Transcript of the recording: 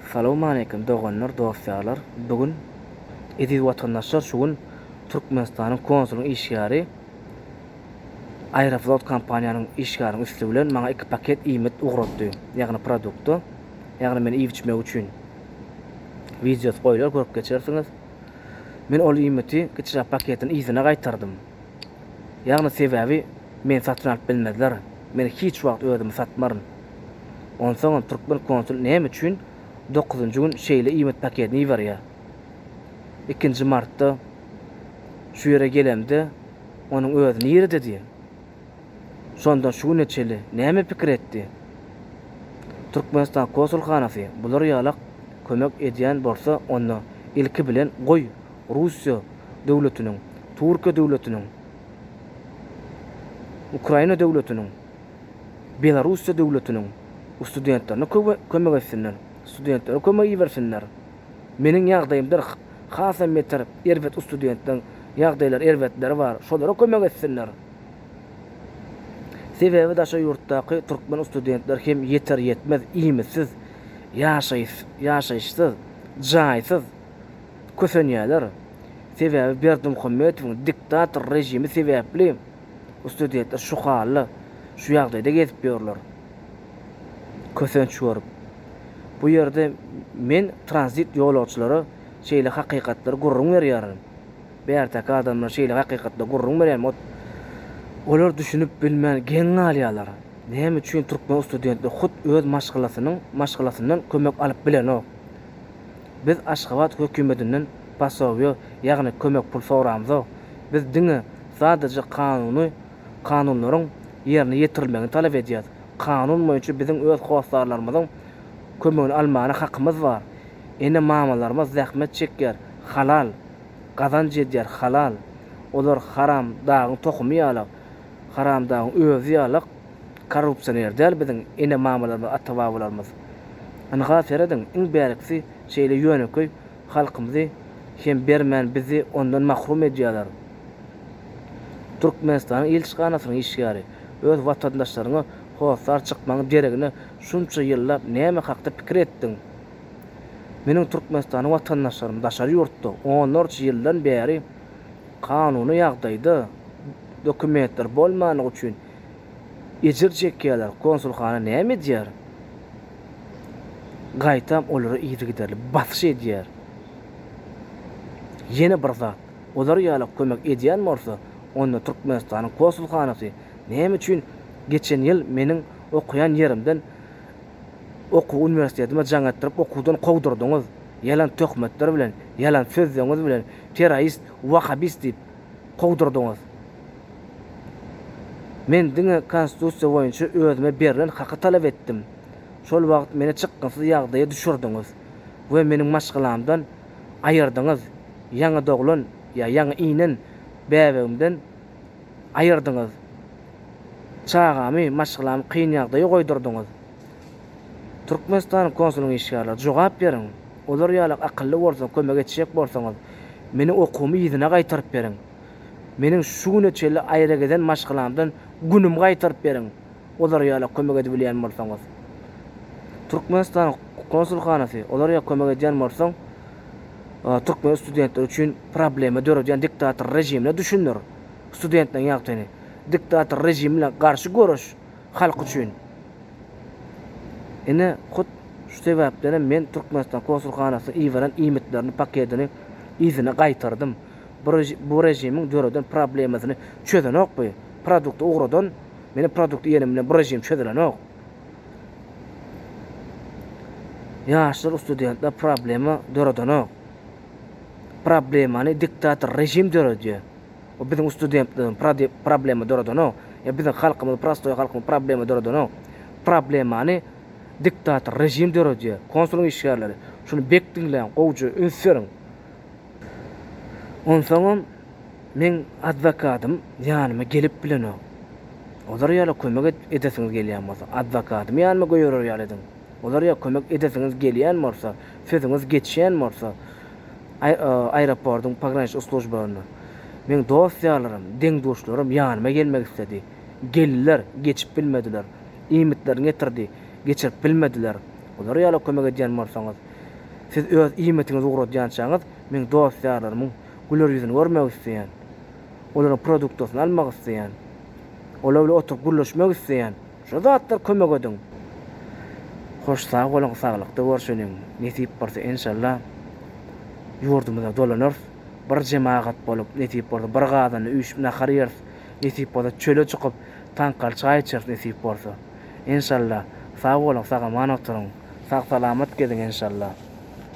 Salowmaleýkim doganlar dosýarlar bu gün eziz watandaşlar şu gün Türkmenistanyň konsulyň işgäri Aeroflot kompaniýanyň işgäriniň üsti bilen maňa iki paket iýmit ugratdy ýagny produkty ýagny men iýip içmek üçin wideosy goýlar görüp geçersiňiz men ol iýmiti kiçiräk paketini yzyna gaýtardym ýagny sebäbi meni satyn alyp bilmezler men hiç wagt özümi satmaryn. Onsoňam türkmen konsuly näme üçin dokuzynjy gün şeýle iýmit paketini iberýär? Ikinji martda şu ýere gelemde onuň özi nirede diýen. Şondan şu güne çenli näme pikir etdi? Türkmenistan kosulhanasy bular ýalak kömek edýän bolsa onda ilki bilen goý Russiýa döwletiniň, Türkiýe döwletiniň, Ukraina döwletiniň, Belorussiýa döwletiniň studentlerine köwe kömek etsinler, studentlere kömek ibersinler. Meniň ýagdaýymdyr hasam beter erbet studentleriň ýagdaýlary erbetleri bar, şolara kömek etsinler. Sebäbi daşary ýurtdaky türkmen studentler hem ýeter ýetmez iýmitsiz, ýaşaýyşsyz, jaýsyz kösenýärler. Sebäbi Berdimuhamedowyň diktator rejimi sebäpli Ustudentler şu hally, şu ýagdaýda gezip ýörler. Kösenç görüp. Bu ýerde men tranzit ýolagçylara şeýle hakykatlary gürrüň berýärin. Bärteki adamlar şeýle hakykatlary gürrüň berýärin. Ot, olar düşünip bilmän geň galýarlar. Näme üçin türkmen ustudenti hut öz maşgalasynyň maşgalasyndan kömek alyp bilenok? Biz Aşgabat hökümetinden posowýo, ýagny kömek pul soramzok. Biz diňe sadaja kanuny, kanunlaryň ýerine ýetirilmegini talap edýäs. Kanun boýunça biziň öz hossarlarymyzyň kömegini almana hakymyz bar. Ene-mamalarymyz zähmet çekýär, halal, gazanç edýär, halal. Olar haram dagyň tohumy ýalak, haramdagyň özi ýalak. korrupsioner däl biziň ene mamalarymyz ata babalarymyz ynha serediň iň bärkisi şeýle ýönekeý halkymyzy hem bermän bizi ondan mahrum edýäler Türkmenistanyň ilçihanasynyň işgäri öz watandaşlaryňa hossar çykmaň deregine şunça ýyllap näme hakda pikir etdiň meniň Türkmenistanyň watandaşlarym daşary ýurtda onlarça ýyldan bäri kanuny ýagdaýda dokumentleri bolmanlygy üçin Ejir çekýärler, konsulhana näme edýär? Gaýtam olara yzygiderli basyş edýär. Ýene bir zat, olar ýaly kömek edýän bolsa, onda Türkmenistanyň konsulhanasy näme üçin geçen ýyl meniň okaýan ýerimden okuw uniwersitetime jaň etdirip okuwdan kowdurdyňyz, ýalan töhmetler bilen, ýalan sözleňiz bilen, terrorist, wahabist diýip, kowdurdyňyz. Men diňe Konstitusiýa boýunça özüme berlen haky talap etdim. Şol wagt meni çykgynsyz ýagdaýa düşürdiňiz we meniň maşgalamdan aýyrdyňyz, ýaňy doglan ýa ýaňy inen bäbegimden aýyrdyňyz, çagamy, maşgalamy kyn ýagdaýa goýdurdyňyz. Türkmenistan konsulyň işgärleri, jogap beriň! Olar ýaly akylly bolsa, kömek etjek bolsaňyz, meniň okuwymy yzyna gaýtaryp beriň! Meniň şu güne çenli aýragezen maşgalamdan günümi gaýtaryp beriň, olar ýala kömek edibilýän bolsaňyz! Türkmenistanyň konsulhanasy, olar ýa kömek edýän bolsaň, türkmen studentleri üçin problema döredýän diktator režimine düşündir studentleriň ýagtyny! Diktator režimi bilen garşy göreş! halk üçin. Ine, hut şu sebäpdenem men Türkmenistan konsulhanasynyň iberan iýmitleriniň paketini yzyna gaýtardym. Bu režimiň döreden problemasyny çözenok bu. Produkty ugradan, meniň produkty iýenim bilen bu režim çözülenok. Ýaşlar, ustudentler problema döredenok. Problemany diktator režim döredýär. O biziň ustudentligi problema doradanok. Ýa biziň halkymyzy prostoý halkymy problema doradanok. Problemany diktator režim döredýär. Konsulyň işgärleri, şuny bek diňläň, gowja üns beriň. Onsoňam meň adwokadym ýanyma gelip bilenok. Olar ýala kömek edip edesiňiz gelýän bolsa, adwokadymy ýanyma göýerer ýaly ediň. Olar ýa kömek edesiňiz gelýän bolsa, sözüňiz geçýän bolsa, aeroportyň pograniçnik slujbasyna. Meň dost-ýarlarym, deň-duşlarym ýanyma gelmek isledi. Geldiler, geçip bilmediler. Iýmitlerini getirdi, geçirip bilmediler. Olar ýala kömek edýän bolsaňyz. Siz öz iýmitiňizi ugradýançaňyz, meň dost-ýarlarymyň güler ýüzüni görmek isleýän. Olaryň produktasyny almak isleýän. Olar bilen oturyp gürleşmek isleýän. Şu zatlar kömek edin. Hoş sag boluň saglykda görşeliň nesip bolsa enşalla ýurdumyza dolanarys bir jemagat bolup nesip bolsa bir gazanda üýşüp nahar ýeris nesip bolsa çöle çykyp taňkaly çaý içeris nesip bolsa enşalla sag boluň sagaman oturyň sag salamat geziň enşalla